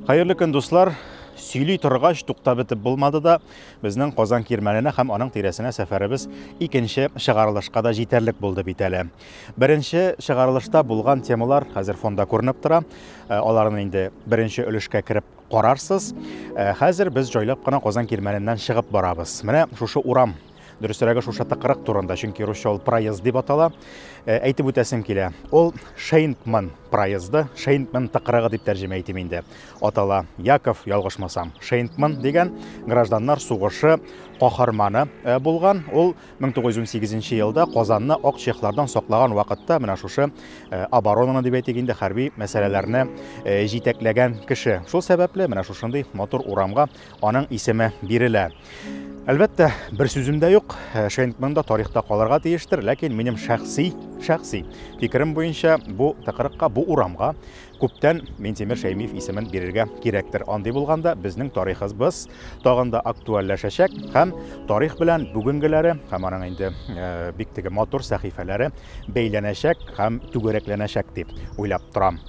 Хәерле көн, дуслар! Сөйли торгач, туктап бетеп булмады да, безнең Казан Кирмәненә һәм аның тирәсенә сәфәребез икенче чыгарылышка да җитәрлек булды бит әле. Беренче чыгарылышта булган темалар хәзер фонда күренеп тора. Э, аларны инде беренче өлешкә кереп карарсыз. Э, хәзер без җайлап кына Казан Кирмәненнән чыгып барабыз. Менә шушы урам дөресрәге шушы тыкрык турында, чөнки русча ул проезд дип атала. Э, әйтеп үтәсем килә. Ул Шейнкман проезды, Шейнкман тыкрыгы дип тәрҗемә итим инде. Атала Яков, ялгышмасам, Шейнкман дигән гражданнар сугышы каһарманы э, булган. Ул 1918 елда Казанны ак чехлардан саклаган вакытта менә шушы э, оборонаны дип әйтик инде хәрби мәсьәләләрне җитәкләгән кеше. Шул сәбәпле менә шушындый матур урамга Аның исеме бирелә. Әлбәттә, бер сүзем дә юк, Шенкман да тарихта калырга тиештер, ләкин минем шәхси, шәхси фикерем буенча, бу тыкрыкка, бу урамга күптән Минтимер Шәймиев исемен бирергә кирәктер. Андый булганда, безнең тарихыбыз тагын да актуальләшәчәк һәм тарих белән бүгенгеләре һәм аның инде бик теге матур сәхифәләре бәйләнәчәк һәм түгәрәкләнәчәк дип уйлап торам.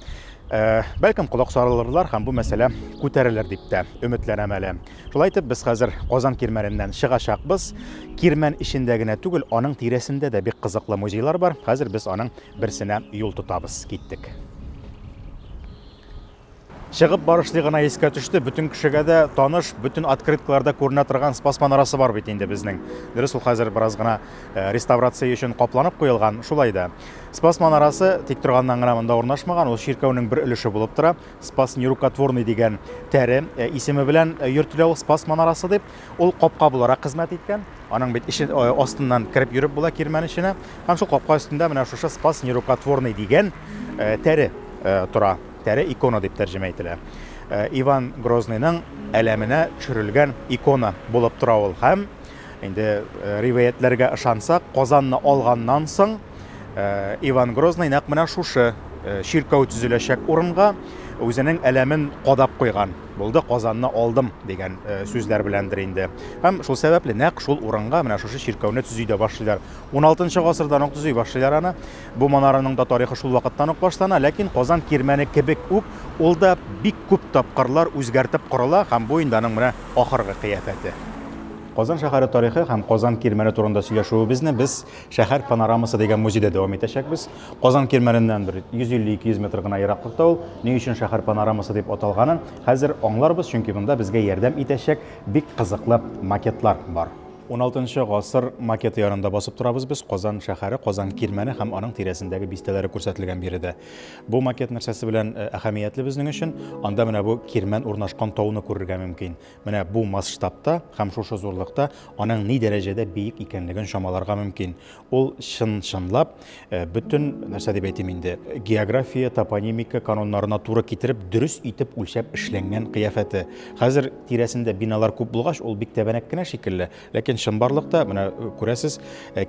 Бәлкем колак салырлар һәм бу мәсьәлә күтәрелер дип тә өметләнәм әле. Шулай итеп, без хәзер Казан Кирмәненнән чыгачакбыз. Кирмән эчендә генә түгел, аның тирәсендә дә бик кызыклы музейлар бар. Хәзер без аның берсенә юл тотабыз. Киттек. Чыгып барышлый гына искә төште, бөтен кешегә дә таныш, бөтен открыткаларда күренә торган Спас манарасы бар бит инде безнең. Дөрес, ул хәзер бераз гына Э, реставрация өчен капланып куелган, шулай да. Спас манарасы тик торганнан гына монда урнашмаган, ул чиркәүнең бер өлеше булып тора. Спас нерукотворный дигән тәре э, исеме белән э, йөртелә ул Спас манарасы дип. Ул капка буларак хезмәт иткән. Аның бит ише астыннан кереп йөреп була кирмән эченә. Һәм шул капка өстендә менә шушы Спас нерукотворный дигән тәре тора. Тәре икона дип тәрҗемә ителә. Иван Грозныйның әләменә төшерелгән икона булып тора ул һәм Инде ривәятләргә ышансак, Казанны алганнан соң Иван Грозный нәкъ менә шушы чиркәү төзеләчәк урынга үзенең әләмен кадап куйган булды казанны алдым дигән сүзләр беләндер инде һәм шул сәбәпле нәкъ шул урынга менә шушы чиркәүне төзи дә башлыйлар 16 гасырдан ук төзи башлыйлар аны Бу манараның да тарихы шул вакыттан ук башлана, ләкин Казан кирмәне кебек үк ул да бик күп тапкырлар үзгәртеп корыла һәм бу инде аның менә ахыргы кыяфәте. Казан шәһәре тарихы һәм Казан кирмәне турында сөйләшүебезне без Шәһәр панорамасы дигән музейда дәвам итәчәкбез. Казан кирмәненнән бер 150-200 метр гына ераклыкта ул. Ни өчен Шәһәр панорамасы дип аталганын хәзер аңларбыз, чөнки монда безгә ярдәм итәчәк бик кызыклы макетлар бар. Уналтынчы гасыр макеты янында басып торабыз без. Казан шәһәре, Казан кирмәне һәм аның тирәсендәге бистәләре күрсәтелгән биредә. Бу макет нәрсәсе белән әһәмиятле безнең өчен? Анда менә бу кирмән урнашкан тауны күрергә мөмкин. Менә бу масштабта һәм шушы зурлыкта аның ни дәрәҗәдә биек икәнлеген чамаларга мөмкин. Ул чын-чынлап бөтен, нәрсә дип әйтим инде, география, топонимика кануннарына туры китереп, дөрес итеп үлчәп эшләнгән кыяфәте. Хәзер тирәсендә биналар күп булгач, ул бик тәбәнәк кенә шикелле, ләкин чынбарлыкта, менә күрәсез,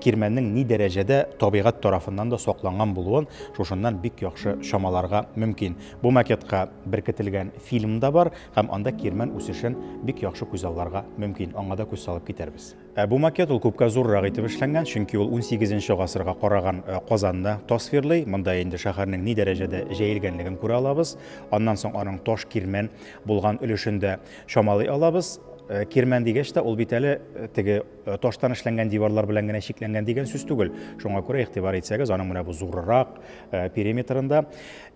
кирмәннең ни дәрәҗәдә табигать тарафыннан да сакланган булуын шушыннан бик яхшы чамаларга мөмкин. Бу макетка беркетелгән фильм да бар һәм анда кирмән үсешен бик яхшы күзалларга мөмкин, аңа да күз салып китәрбез. Ә бу макет ул күпкә зуррак итеп эшләнгән, чөнки ул унсигезенче гасырга караган Казанны тасвирлый. Монда инде шәһәрнең ни дәрәҗәдә җәелгәнлеген күрә алабыз. Аннан соң аның таш кирмән булган өлешен дә чамалый алабыз. Кирмән дигәч тә, ул бит әле теге таштан эшләнгән диварлар белән генә чикләнгән дигән сүз түгел. Шуңа күрә игътибар итсәгез, аның менә бу зуррырак периметрында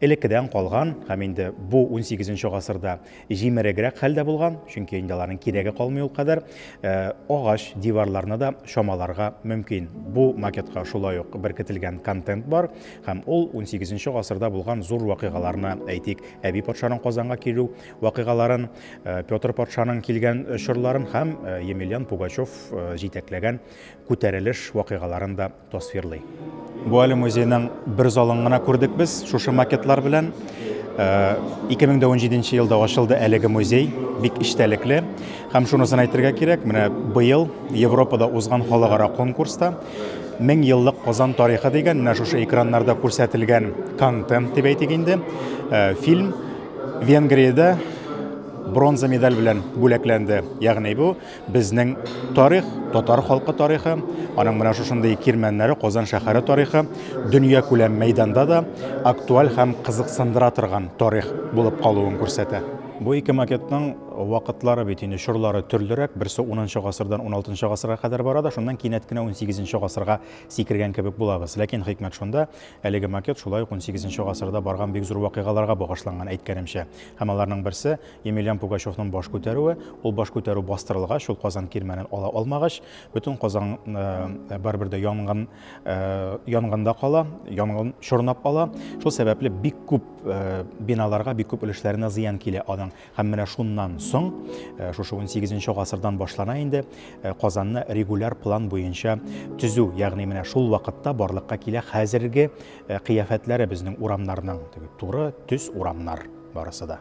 элеккедән калган һәм инде бу унсигезенче гасырда җимерегрәк хәлдә булган, чөнки инде аларның кирәге калмый ул кадәр. Э, агач диварларны да чамаларга мөмкин. Бу макетка шулай ук беркетелгән контент бар һәм ул 18 гасырда булган зур вакыйгаларны, әйтик, Әби патшаның Казанга килү вакыйгаларын, э, Петр патшаның килгән чорларын һәм э, Емельян Пугачев җитәкләгән күтәрелеш вакыйгаларын да Тасвирлый. Бу әле музейның бер залын гына күрдек без шушы макетлар белән. 2017 э, елда ачылды әлеге музей, бик эчтәлекле. Һәм шунысын әйтергә кирәк, менә быел Европада узган халыкара конкурста 1000 еллык Казан тарихы дигән менә шушы экраннарда күрсәтелгән контент дип әйтик инде, э, фильм Венгриядә бронза медаль белән бүләкләнде. Ягъни бу Безнең тарих, татар халкы тарихы, аның менә шушындый кирмәннәре, Казан шәһәре тарихы дөнья күләм мәйданда да актуаль һәм кызыксындыра торган тарих булып калуын күрсәтә. Бу ике макетның вакытлары бит инде чорлары төрлерәк, берсе 10 гасырдан 16 гасырга кадәр бара да, шуннан кинәт кенә 18 гасырга сикергән кебек булабыз. Ләкин хикмәт шунда, әлеге макет шулай ук 18 гасырда барган бик зур вакыйгаларга багышланган, әйткәнемчә. Һәм аларның берсе, Емельян Пугачевның баш күтәрүе, ул баш күтәрү бастырылгач, ул Казан кирмәнен ала алмагач, бөтен Казан э, барыбер дә янгын э, янгында кала, янгын чорнап ала. Шул сәбәпле бик күп э, биналарга, бик күп өлешләренә зыян килә аның. Һәм менә шуннан соң, шушы 18 гасырдан башлана инде, Казанны регуляр план буенча төзү, ягъни менә шул вакытта барлыкка килә хәзерге Ә кыяфәтләре безнең урамнарның теге туры төс урамнар барысы да.